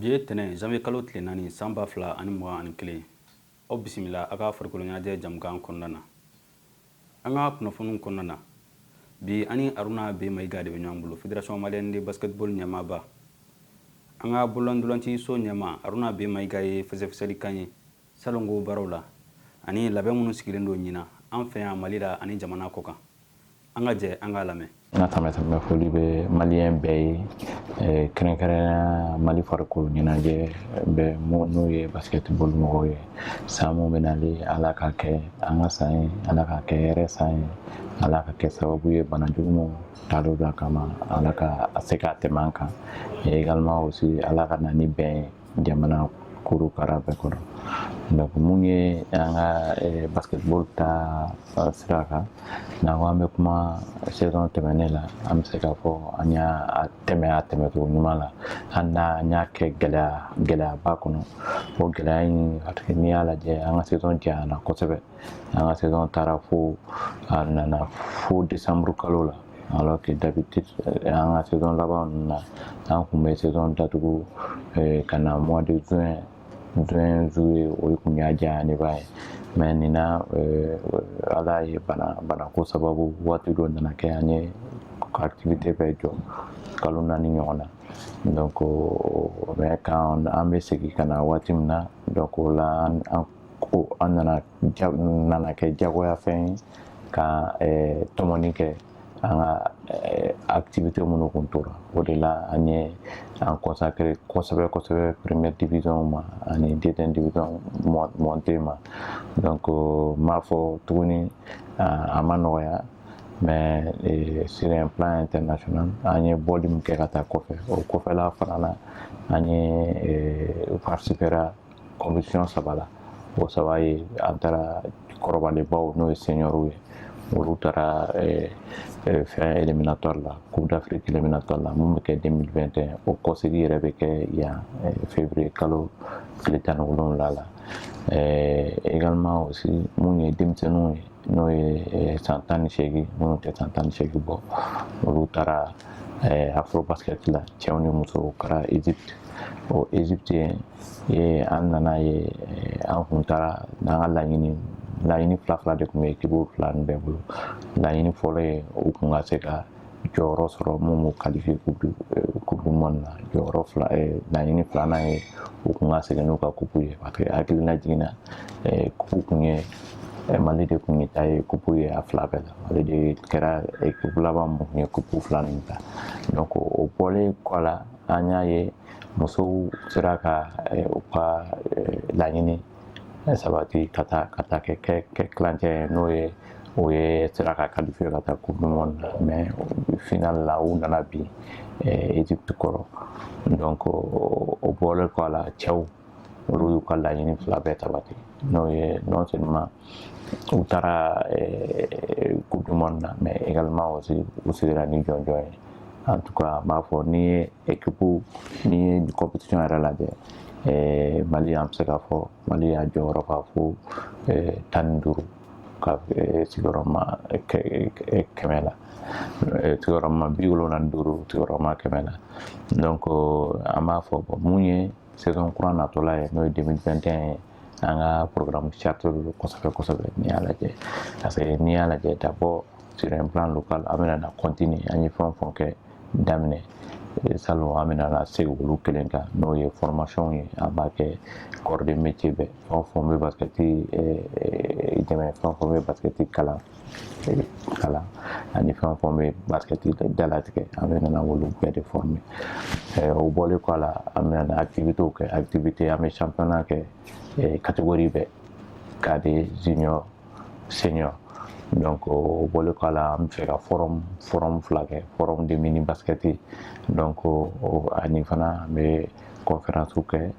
bi ye tɛnɛn zanwiye kalo tile naani san ba fila ani mugan ani kelen aw bisimila a ka farikoloɲɛnajɛ jamukan kɔnɔna na an ka kunnafoniw kɔnɔna na bi an ni aruna be mayiga de bɛ ɲɔgɔn bolo federation malienne de basketball ɲɛmaaba an ka bololantolaci so ɲɛmaa aruna be mayiga ye fɛsɛfɛsɛli k'an ye Salon ko baaraw la ani labɛn minnu sigilen don ɲinan an fɛ yan Mali la ani jamana kɔ kan. An ka jɛ an k'a lamɛn. N ka sanbɛsanbɛ foli bɛ maliyɛn bɛɛ ye eh, kɛrɛnkɛrɛnnenya mali farikolo ɲɛnajɛ bɛɛ n'o ye basketball mɔgɔw ye san mun bɛ nali ala ka kɛ an ka san ye ala ka kɛ hɛrɛ san ye ala ka kɛ sababu ye bana jugumanw talo da kama ala ka a se k'a tɛmɛ an kan egalement aussi ala ka na ni bɛn ye jamana kurukara bɛɛ kɔnɔ donc mun ye an ka eh, basketball ta eh, sira kan n'an ko an bɛ kuma saison tɛmɛnen la an bɛ se k'a fɔ an y'a tɛmɛ a tɛmɛcogo ɲuman la hali n'an y'a kɛ gɛlɛya gɛlɛyaba kɔnɔ o gɛlɛya in hali n'i y'a lajɛ an ka saison janyana kosɛbɛ an ka saison taara fo a nana fo decembre kalo la Alors que d'habitude an ka saison laban ninnu na an kun bɛ saison datugu ka na mois de juin juin juillet o kun y'a janyalenba ye mais nin na Ala ye bana banako sababu waati dɔ nana kɛ an y'an ka activité bɛɛ jɔ kalo naani ɲɔgɔn na donc mais quand an bɛ segin ka na waati min na donc o la an ko a nana nana kɛ jagoyafɛn ye ka tɔmɔni kɛ an ka activité minnu kun tora o de la an ye an consacrer kosɛbɛ kosɛbɛ première division ma ani deuxième division montée ma donc n b'a fɔ tuguni a ma nɔgɔya mais sur un plan international an ye bɔli min kɛ ka taa kɔfɛ o kɔfɛla fana na an ye participera compétition saba la o saba ye an taara kɔrɔbalenbaw n'o ye seniorw ye olu taara fɛn éliminatoire la coupe d'afrique éliminatoire la min bɛ kɛ deux mille vingt et un o kɔsegin yɛrɛ bɛ kɛ yan fɛn février kalo tile tan ni wolonfila la également aussi minnu ye denmisɛnninw ye n'o ye san tan ni segin minnu tɛ san tan ni segin bɔ olu taara afrobasket la cɛw ni musow kɛra egypte ɔ egypte Ee an nana ye an kun taara n'an ka laɲini laɲini fila fila de kun bɛ équipe fila nin bɛɛ bolo laɲini fɔlɔ ye u kun ka se ka jɔyɔrɔ sɔrɔ minnu b'u kalifiye coupe du monde na jɔyɔrɔ fila laɲini filanan ye u kun ka segin n'u ka kupu ye parce que hakilina jiginna kupu kun ye mali de kun ye ta ye kupu ye a fila bɛɛ la mali de kɛra équipe laban mun ye kupu fila nin ta donc o bɔlen kɔ la an y'a ye musow sera ka u ka laɲini sabati ka taa ka taa kɛ kɛ kilancɛ ye n'o ye u ye sera ka kalifiye ka taa coupe du monde la mais finale la u nana bin Egypte kɔrɔ donc o bɔlen kɔ a la cɛw olu y'u ka laɲini fila bɛɛ sabati n'o ye non seulement u taara coupe du monde na mais également aussi u seginna ni jɔnjɔn ye en tout cas n b'a fɔ n'i ye équipe n'i ye compétition yɛrɛ lajɛ mali an bɛ se k'a fɔ mali y'a jɔyɔrɔ fa fo tan ni duuru ka sigiyɔrɔma kɛmɛ la sigiyɔrɔma bi wolonwula ni duuru sigiyɔrɔma kɛmɛ la donc an b'a fɔ mun ye saison kura natɔla ye n'o ye 2021 ye an ka programme chargé don kosɛbɛ kosɛbɛ n'i y'a lajɛ parce que n'i y'a lajɛ d'abord sur un plan local an bɛna na continuer an ye fɛn o fɛn kɛ daminɛ salon an bɛna na segin olu kelen kan n'o ye formation ye an b'a kɛ corps de métier bɛɛ fɛn o fɛn bɛ basikɛti dɛmɛ fɛn o fɛn bɛ basikɛti kalan kalan ani fɛn o fɛn bɛ basikɛti dalatigɛ an bɛna na olu bɛɛ de former o bɔlen kɔ a la an bɛna na activitéw kɛ activité an bɛ championnat kɛ catégorie bɛɛ cadet junior senior donc o bɔlen kɔ a la an bɛ fɛ ka forum forum fila kɛ forum de mini basikɛti donc ani fana an bɛ conférencew kɛ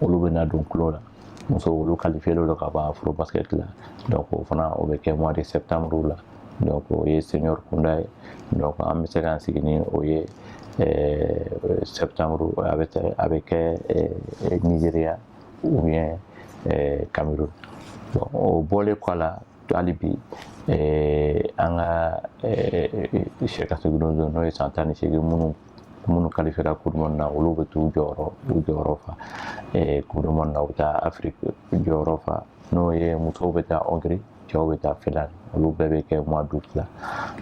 olu bɛ na don tulon la musow olu kalifiye don ka ban Afro basket la donc o fana o bɛ kɛ mois de septembre la donc o ye senior kunda ye donc an bɛ se k'an sigi ni o ye euh, septembre a bɛ a bɛ kɛ euh, Nigeria ou bien euh, Cameroun bon o bɔlen kɔ a la hali bi an ka sɛ ka sɛgɛdenw n'o ye san tan ni seegin minnu minnu kalifiyera coupe du monde na olu bɛ t'u jɔyɔrɔ u jɔyɔrɔ fa coupe du monde na u bɛ taa afiriki jɔyɔrɔ fa n'o ye musow bɛ taa Hongrie cɛw bɛ taa Finlande olu bɛɛ bɛ kɛ mois d'août la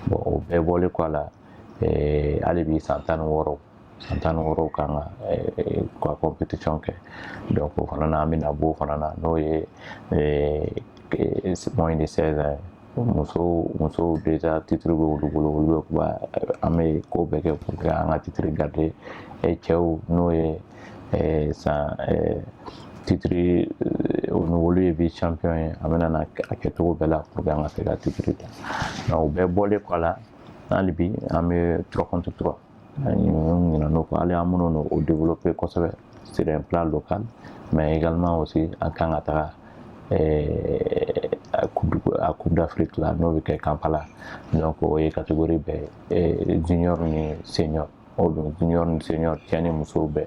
bon o bɛɛ bɔlen kɔ a la hali bi san tan ni wɔɔrɔ san tan ni wɔɔrɔw kan ka ka compétition kɛ donc o fana na an bɛna b'o fana na n'o ye moins de 16 ans muso musow déjà titre bɛ olu bolo olu bɛ kuma an bɛ ko bɛɛ kɛ pour que an ka titre garder cɛw n'o ye sans titre o ni olu ye vice champion ye an bɛna na a kɛcogo bɛɛ la pour que an ka se ka titre ta o bɛɛ bɔlen kɔ a la hali bi an bɛ trois contre trois ani minnu ɲinɛna o kɔ hali an minnu n'o o développer kosɛbɛ sur un plan local mais également aussi an kan ka taga eh, a coupe d'afrique la n'o bɛ kɛ kampala donc o ye catégorie bɛɛ ye eh, junior ni senior o don junior ni senior cɛ ni muso bɛɛ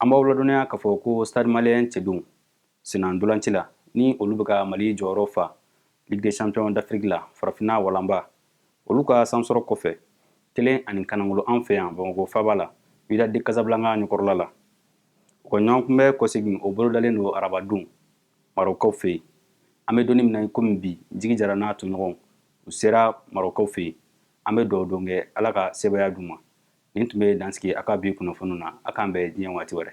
An b'aw ladɔnniya k'a fɔ ko Stade Malien cɛdenw senna ntolaci la ni olu bɛ ka Mali jɔyɔrɔ fa Ligue des Champions d'Afrique la farafinna walanba olu ka sansɔrɔ kɔfɛ kelen ani kanangolo an fɛ yan Bamako faaba la Wydad de Casablanca ɲɛkɔrɔla la. U ka ɲɔgɔnkunbɛ kɔsegin o bolodalen don arabadon Marɔkkaw fɛ yen. An bɛ don nin min na ikomi bi, Jigi Jara n'a tɔɲɔgɔnw u sera Marɔkkaw fɛ yen. An bɛ dugawu don kɛ Ala ka sebaaya d'u ma. nin tun bɛ dan sigi an ka bi kunnafoni na a k'an bɛn diɲɛ waati wɛrɛ